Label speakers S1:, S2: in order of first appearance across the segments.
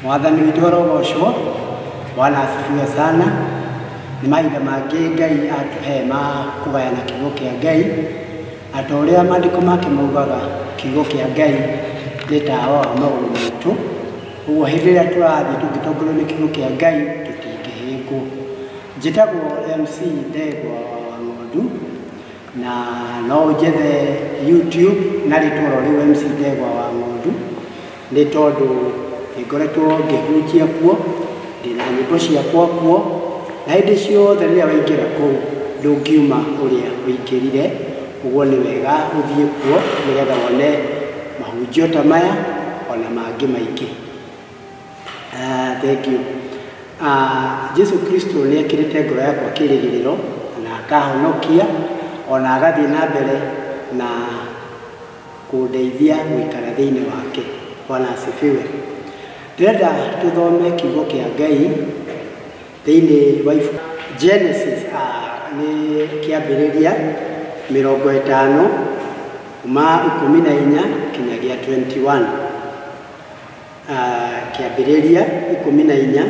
S1: mwathani witũ arogocwo bwana asifiwe sana nĩ mahinda mangĩ ngai atũhe ma kũgayana kiugo kĩa ngai na ta ũrĩa maandĩko make maugaga kiugo kĩa ngai nĩ tawa wa magũrũ maitũ ũguo hĩndĩ ĩrĩa tũrathiĩ tũngĩtongorio nĩ kiugo kĩa ngai tũtingĩhĩngwo njĩtagwo mc ndegwa wa ng'ondu na no ũnjethe YouTube na rĩtwa oro rĩu MC Ndegwa wa Ng'ondu nĩ tondũ nĩngoretwo ngĩhunjia kuo ndĩna nyĩmbo ciakwa kuo na hĩndĩ ciothe rĩrĩa waingĩra kũu ndũngiuma ũrĩa ũingĩrire ũguo nĩ wega ũthiĩ kuo nĩgetha wone mahunjio ta maya ona mangĩ maingĩ. Aah thengiũ. Aah Jesu Kristo nĩ ekĩrĩte ngoro yakwa kĩrĩgĩrĩro na akahonokia ona agathiĩ na mbere na kũndeithia gũikara thĩinĩ wake. Bwana asifiwe. Ndĩrenda tũthome kiugo kĩa Ngai thĩinĩ wa ibu Genesis aah nĩ kĩambĩrĩria mĩrongo ĩtano kuma ikũmi na inya kinyagia 21. Kĩambĩrĩria ikũmi na inya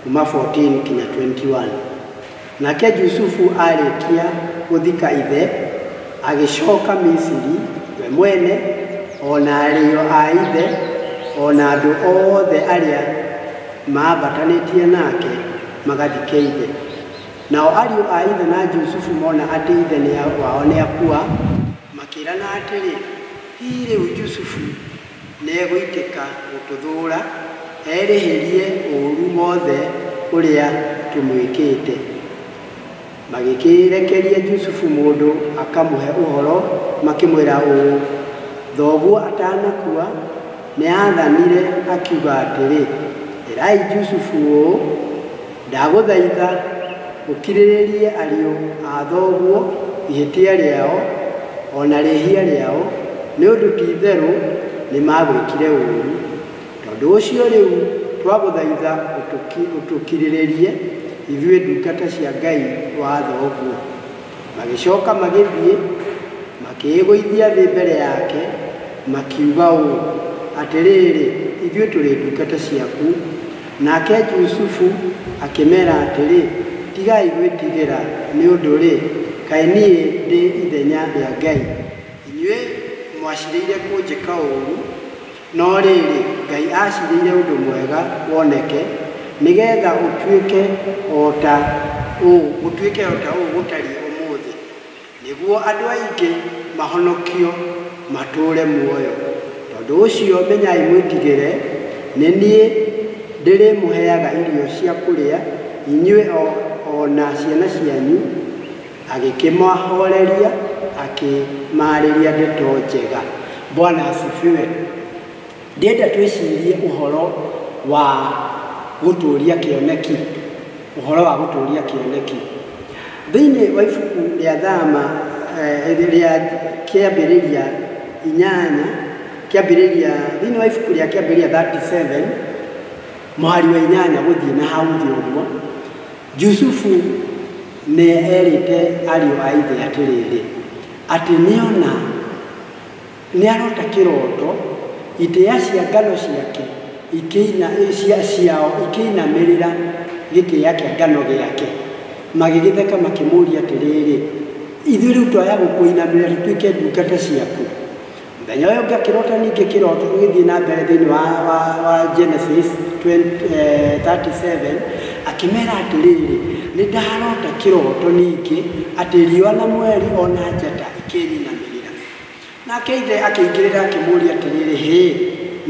S1: kuma 14 kinya 21 Nake Jusufu arĩkia gũthika ithe, agĩcoka Misiri we mwene, o na arĩo a ithe, o na andũ othe arĩa maambatanĩtie nake magathike ithe. Nao ariũ a ithe na Jusufu mona atĩ ithe nĩ wao nĩakua, makĩrana atĩrĩ, Hihi rĩu Jusufu Nĩegũitĩka gũtũthũũra, erĩhĩrie ũũru wothe ũrĩa tũmwĩkĩte. Magĩkĩĩrekeria Jusufu mũndũ akamũhe ũhoro, makĩmwĩra ũũ, Thoguo atanakua, nĩaathanire akiuga atĩrĩ, 'Ĩrai Jusufu ũũ, Ndagũthaitha ũkirĩrĩrie ariũ a thoguo ihĩtia rĩao, o na rĩhia rĩao, nĩ ũndũ ti-itherũ nĩmagwĩkire ũũru. Tondũ ũcio rĩu twagũthaitha ũtũkirĩrĩrie ithuĩ ndungata cia Ngai wa thoguo. Magĩcoka magĩthiĩ, makĩĩgũithia thĩ mbere yake, makiuga ũũ, Atĩrĩrĩ, ithuĩ tũrĩ ndungata ciaku. Nake Jusufu akĩmeera atĩrĩ, Tigai gwĩtigĩra, nĩ ũndũ-rĩ, kaĩ niĩ ndĩ ithenya rĩa Ngai? Inyuĩ mwaciirĩire kũnjĩka ũũru, no rĩrĩ, Ngai aaciirĩire ũndũ mwega woneke, nĩ geetha ũtuĩke o ta ũũ gũtariĩ ũmũthĩ. Nĩguo andũ aingĩ mahonokio matũũre muoyo. Tondũ ũcio menyai mwĩtigĩre, nĩ niĩ ndĩrĩmũheaga irio cia kũrĩa, inyuĩ o na ciana cianyu. Agĩkĩmahooreria, akĩmaarĩria ndeto njega. Bwana asifiwe. Ndĩrenda twĩcirie ũhoro wa gũtũũria kĩoneki. Ũhoro wa gũtũũria kĩoneki. Thĩinĩ wa ibuku rĩa Thama eh, rĩa kĩambĩrĩria inyanya, kĩambĩrĩria, thĩinĩ wa ibuku rĩa kĩambĩrĩria 37, mũhari wa inyanya gũthiĩ na hau thĩ ũguo, Jusufu nĩ erĩte ariũ a ithe atĩrĩrĩ, atĩ nĩona Nĩaroota kĩroto, itĩĩa cia ngano ciake ikĩina, cia, ciao ikĩinamĩrĩra gĩtĩĩa kĩa ngano gĩake. Magĩgĩtheka makĩmũũria atĩrĩrĩ, Ithuĩ rĩu twaya gũkũinamĩrĩra tũtuĩke ndungata ciaku? Mũthenya ũyũ ũngĩ akĩroota ningĩ kĩroto, tũgĩthiĩ na mbere thĩinĩ wa, wa, wa Genesis 20, eh, 37, akĩmera atĩrĩrĩ, Nĩndaroota kĩroto ningĩ atĩ riũa na mweri o na njata ikĩnyinamĩrĩra. Nake ithe akĩingĩrĩra akĩmũũria atĩrĩrĩ, Hĩ,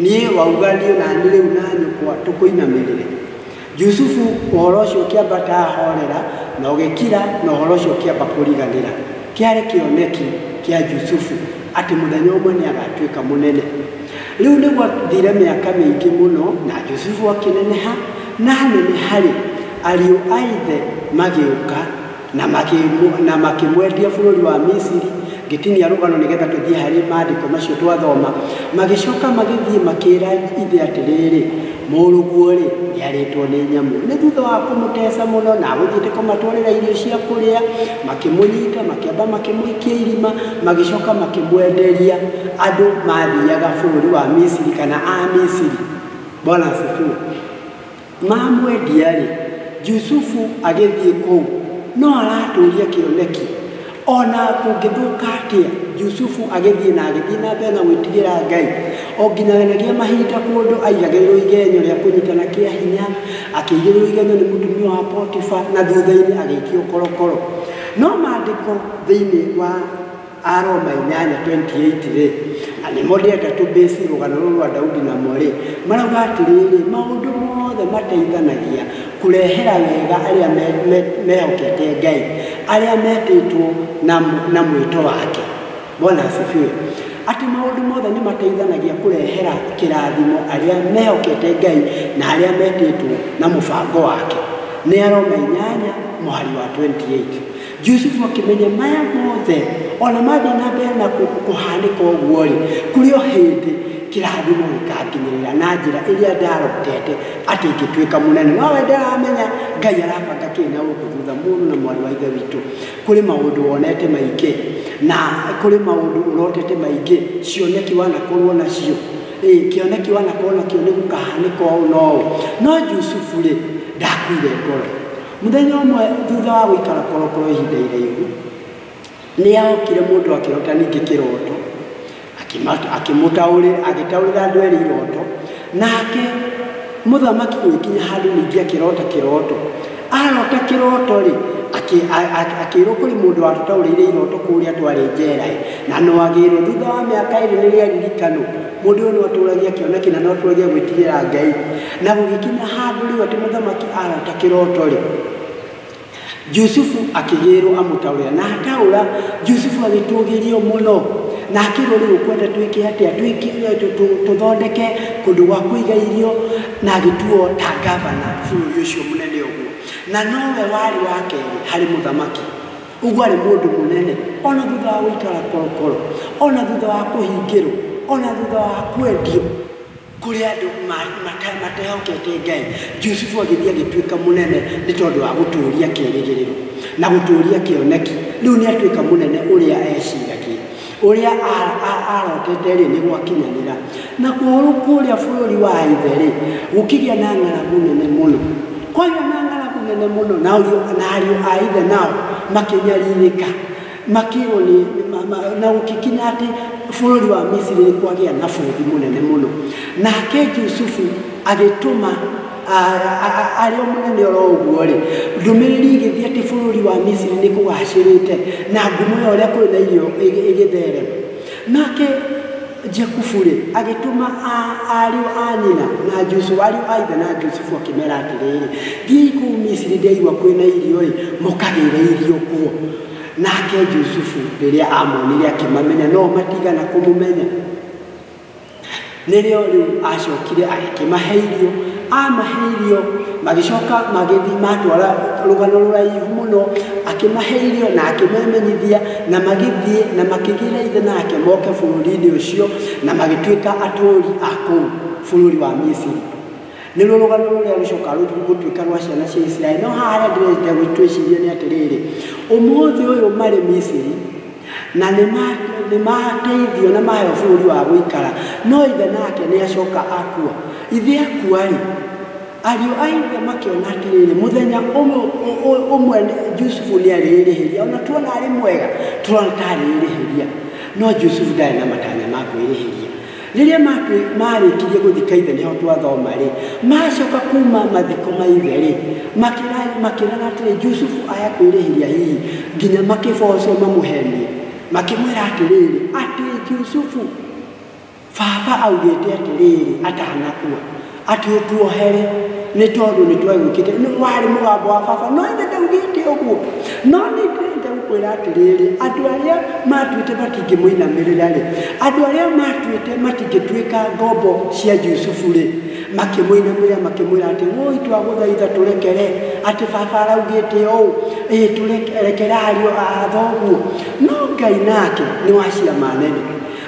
S1: niĩ wauga thiĩ na niĩ rĩu na nyũkwa tũkũinamĩrĩre? Jusufu ũhoro ũcio ũkĩambata ahorera na ũgĩkira, na ũhoro ũcio ũkĩamba kũriganĩra. Kĩarĩ kĩoneki kĩa Jusufu atĩ mũthenya ũmwe nĩ agatuĩka mũnene. Rĩu nĩ gwathire mĩaka mĩingĩ mũno, na Jusufu akĩneneha, na aneneha-rĩ, ariũ a ithe magĩũka na makĩmũ- na makĩmwendia bũrũri wa misiri ngĩtinia rũgano nĩgetha tũthiĩ harĩ maandĩko macio twathoma magĩcoka magĩthiĩ makĩra ithe atĩrĩrĩ mũrũguo-rĩ nĩarĩtwo nĩ nyamũ nĩ thutha wa kũmũteca mũno na agũthiĩte kũmatwarĩra irio cia kũrĩa makĩmũnyita makĩamba makĩmũikia irima magĩcoka makĩmwenderia andũ mathiaga bũrũri wa misiri kana a misiri bwana asifiwe Mamwendia-rĩ, Jusufu agĩthiĩ kũu, no aratũũria kĩoneki. O na kũngĩthũka atĩa, Jusufu agĩthiĩ na agĩthiĩ na mbere na gwĩtigĩra Ngai, o nginyaganagia mahinda kũndũ aigagĩrĩrwo igenyo rĩa kũnyitana kĩa hinya, akĩigĩrĩrwo igenyo nĩ mũtumia wa Potifa, na thutha-inĩ agĩikio korokoro. No maandĩko thĩinĩ wa. Aroma inyanya 28 rĩ, na nĩ mo ndĩenda tũbĩci rũgano rũrũ rwa Daudi namo rĩ, marauga atĩrĩrĩ, maũndũ mothe mateithanagia kũrehera wega arĩa me, me, mehokete Ngai, arĩa metĩtwo na, na mwĩto wake. Bwana asifiwe. Atĩ maũndũ mothe nĩ mateithanagia kũrehera kĩrathimo arĩa mehokete Ngai na arĩa metĩtwo na mũbango wake. Nĩ Aroma inyanya mũhari wa 28. Jusufu akĩmenya maya mothe ona mathiĩ na mbere na kũhanĩka ũguo-rĩ, kũrĩ o hĩndĩ kĩrathimo gĩkanginyĩrĩra na njĩra ĩrĩa ndarotete atĩ ingĩtuĩka mũnene. No we ndaramenya Ngai arabanga kĩĩ na ũndũ thutha mũrũ na mwarĩ wa Ithe witũ. Kũrĩ maũndũ wonete maingĩ na kũrĩ maũndũ ũrotete maingĩ, cioneki wanakorwo nacio, ĩ kĩoneki wanakorwo nakĩo nĩ gũkahanĩka ũũ na ũũ. No Jusufu-rĩ, ndakuire ngoro. Mũthenya ũmwe thutha wa gũikara korokoro ihinda iraihu, nĩ aokire mũndũ akĩrota ningĩ kĩroto, akĩmũtaũrĩra agĩtaũrĩra andũ erĩ iroto, nake mũthamaki gũgĩkinya handũ ningĩ akĩrota kĩroto, arota kĩroto rĩ akĩrwo kũrĩ mũndũ watũtaũrĩire iroto kũrĩa twarĩ njera na no agĩrwo thutha wa mĩaka ĩrĩ nĩ rĩaririkanwo mũndũ ũyũ no atũragia kĩoneki na no atũragia gwĩtigĩra Ngai. Na gũgĩkinya handũ rĩu atĩ mũthamaki arota kĩroto-rĩ, Jusufu akĩgĩrwo amũtaũrĩra, na ataũra, Jusufu agĩtũũgĩrio mũno, na akĩrwo rĩu ũkwenda twĩke atĩa, tũthondeke kũndũ gwa kũiga irio, na agĩtuo ta ngavana bũrũri ũcio mũnene ũguo, na nowe warĩ wa kerĩ harĩ mũthamaki. Ũguo arĩ mũndũ mũnene, ona thutha wa gũikara korokoro, ona thutha wa kũhingĩrwo, ona thutha wa kwendio. Kũrĩ andũ matehokete Ngai, Jusufu agĩthiĩ agĩtuĩka mũnene nĩ tondũ wa gũtũũria kĩĩrĩgĩrĩro na gũtũũria kĩoneki. Rĩu nĩ atuĩka mũnene ũrĩa eeciragia. Ũrĩa aarotete-rĩ, nĩ gwakinyanĩra. Nakuo kũrĩa bũrũri wa ithe-rĩ, gũkĩgĩa na ng'aragu nene mũno. Kwagĩa na ng'aragu nene mũno, na ariũ a ithe nao makĩnyarirĩka. Makĩrwo nĩ, na gũkĩkinya atĩ bũrũri wa Misiri nĩ kwagĩa na bũthi mũnene mũno. Nake Jusufu agĩtũma arĩ o mũnene oro ũguo-rĩ, ndũmĩrĩri igĩthiĩ atĩ bũrũri wa Misiri nĩ kũgacĩrĩte na ngumo ya ũrĩa kũrĩ na irio ĩgĩtherema. Nake Jakubu-rĩ, agĩtũma ariũ a nyina na Jusufu, ariũ a ithe na Jusufu, akĩmera atĩrĩrĩ, thiĩi kũu Misiri, ndĩraigua kwĩ na irio-ĩ, mũkagĩre irio kuo. nake Jusufu rĩrĩa amonire akĩmamenya no matigana kũmũmenya nĩrĩo rĩu acokire agĩkĩmahe irio amahe irio magĩcoka magĩthiĩ matwara rũgano rũraihu mũno akĩmahe irio na akĩmemenyithia na magĩthiĩ na makĩgĩra ithe nake moke bũrũri-inĩ ũcio na magĩtuĩka atũũri a kũu bũrũri wa misiri Nĩ ruo rũgano rũrĩa rũcokaga rũthiĩ gũtuĩka rwa ciana cia Isiraeli. No haha harĩa ndĩrenda gwĩtwĩciria nĩ atĩrĩrĩ, ũmũthĩ ũyũ marĩ Misiri na nĩ ma- nĩ mateithio na maheo bũrũri wa gũikara, no ithe nake nĩ acoka akua. Ithe akua-rĩ, ariũ a ithe makĩona atĩrĩrĩ, mũthenya ũmwe ũ- ũ- ũmwe Jusufu nĩ arĩĩrĩhĩria, ona tuona arĩ mwega tũrona ta arĩĩrĩhĩria, no Jusufu ndarĩ na matanya ma kwĩrĩhĩria. Rĩrĩa maarĩkirie gũthika ithe nĩho twathoma-rĩ, maacoka kuuma mathiko ma ithe-rĩ, makĩrana atĩrĩ, Jusufu aya kwĩrĩhĩria hihi nginya makĩboocwo mamũhenie. Makĩmwĩra atĩrĩrĩ, atĩ Jusufu, baba augĩte atĩrĩrĩ, atanakua. Atĩ ũtuohere nĩ tondũ nĩ twegwĩkĩte nĩ warĩ mũgambo wa baba no ĩndĩ ndaugĩte ũguo no nĩ ndĩrĩte gũkwĩra atĩrĩrĩ andũ arĩa matuĩte matingĩmũinamĩrĩra rĩ andũ arĩa matuĩte matingĩtuĩka ngombo cia Yusufu rĩ makĩmũinamĩrĩra makĩmwĩra atĩ woi twagũthaitha tũrekere atĩ baba araugĩte ũũ ĩĩ tũrekere ariũ athoguo no Ngai nake nĩ wa ciama nene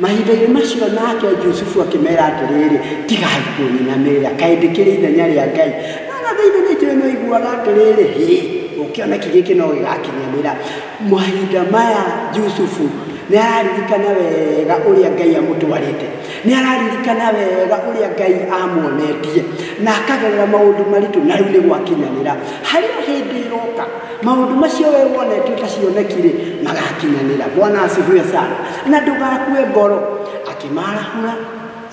S1: Mahinda-inĩ macio nake Jusufu akĩmera atĩrĩrĩ, tigai kũnyinamĩrĩra, kaĩ ndĩkĩrĩ ithenya rĩa Ngai? No na thĩinĩ witũ nĩ maiguaga atĩrĩrĩ, hĩ, ũkĩoneki gĩkĩ no gĩgakinyanĩra. Mahinda maya Jusufu nĩ araririkana wega ũrĩa Ngai amũtwarĩte, nĩ araririkana wega ũrĩa Ngai amuonetie na akagerera maũndũ maritũ, na rĩu nĩ gwakinyanĩra. Harĩ o hĩndĩ ĩroka, maũndũ macio we wonete ũtacioneki-rĩ, magakinyanĩra. Bwana asifiwe sana. na ndũgakue ngoro akĩmarahũra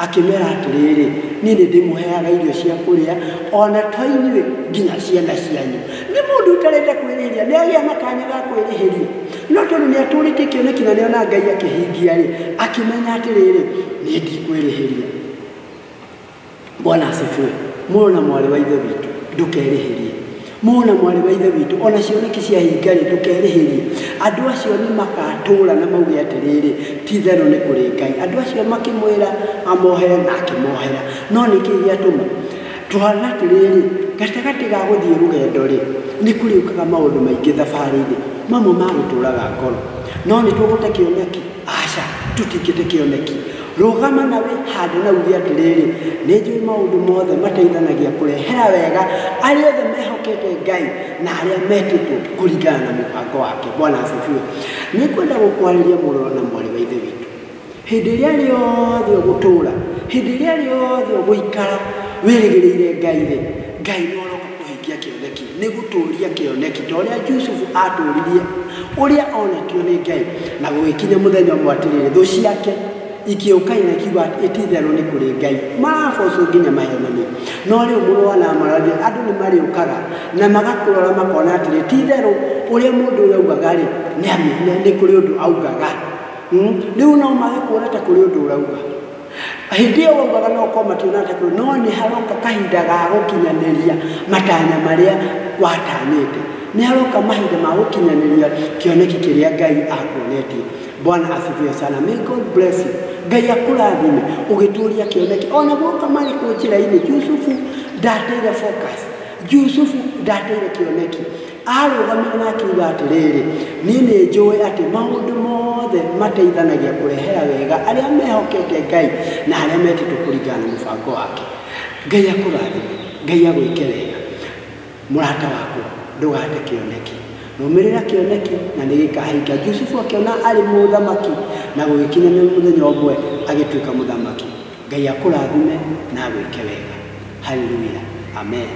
S1: akĩmera atĩrĩrĩ niĩ nĩ ndĩmũheaga irio cia kũrĩa ona to inyuĩ nginya ciana cianyu nĩ mũndũ ũtarenda kwĩrĩhĩria nĩ agĩa na kanya ga kwĩrĩhĩria no tondũ nĩ atũrĩtie kĩoneki na nĩ ona ngai akĩhingia rĩ akĩmenya atĩrĩrĩ niĩ ndikwĩrĩhĩria bwana asifiwe mũrũ na mwarĩ wa ithe witũ ndũkerĩhĩrie mũrũ na mwarĩ wa ithe witũ ona cioneki cia hingarĩ ndũkerĩhĩrie andũ acio nĩ magatũũra na mauge atĩrĩrĩ ti therũ nĩ kũrĩ ngai andũ acio makĩmwĩra amohere na akĩmohera no nĩ kĩĩ gĩatũma tũhana atĩrĩrĩ gatagatĩ ga gũthiĩ rũgendo rĩ nĩ kũrĩũkaga maũndũ maingĩ thabarĩ-inĩ mamwe ma gũtũũraga ngoro no nĩ tũgũte kĩoneki Aca, tũtikĩte kĩoneki. Rũgama na wĩhande na uge atĩrĩrĩ, nĩ njũĩ maũndũ mothe mateithanagia kũrehera wega arĩa othe mehokete Ngai na arĩa metĩtwo kũringana na mũbango wake. Bwana asifiwe. Nĩ kwenda gũkwarĩria mũrũro na mwarĩ wa Ithe witũ. Hĩndĩ ĩrĩa rĩothe ũgũtũra, hĩndĩ ĩrĩa rĩothe ũgũikara wĩrĩgĩrĩire Ngai-rĩ, Ngai nĩ Kũhingia kĩoneki nĩ gũtũũria kĩoneki ta ũrĩa Jusufu aatũũririe ũrĩa oonetio nĩ Ngai. Na gũgĩkinya mũthenya ũmwe atĩrĩrĩ, thũ ciake ikĩũka na ikiuga atĩ, Ti itherũ nĩ kũrĩ Ngai. Maraboocwo nginya maheenanie. No rĩu mũrũ wa Laama araũria, Andũ nĩ marĩũkaga na magakũrora makona atĩrĩ, ti itherũ ũrĩa mũndũ ũyũ augaga-rĩ, nĩ kũrĩ ũndũ augaga? Rĩu o nao magĩkũũra ta kũrĩ ũndũ ũrauga. Hĩndĩ ĩyo waugaga no korwo mationate kũrĩ no nĩ haroka kahinda ga gũkinyanĩria matanya marĩa watanyĩte nĩ haroka mahinda ma gũkinyanĩria kĩoneki kĩrĩa ngai akuonetie bwana asifiwe sana may god bless you ngai akũrathime ũgĩtũria kĩoneki ona guoka marĩ kũ njĩra-inĩ yusufu ndateire focus yusufu ndateire kĩoneki Aarũgamire na akiuga atĩrĩrĩ, Niĩ nĩ njũĩ atĩ maũndũ mothe mateithanagia kũrehera wega arĩa mehokete Ngai na arĩa metĩtwo kũringana na mũbango wake. Ngai akũrathime. Ngai agwĩke wega. Mũrata wakwa, ndũgate kĩoneki. Rũmĩrĩra kĩoneki na nĩ gĩkahinga. Jusufu akĩona arĩ mũthamaki na gũgĩkinya nĩ mũthenya ũmwe agĩtuĩka mũthamaki. Ngai akũrathime na agwĩke wega. Haleluya. Amen.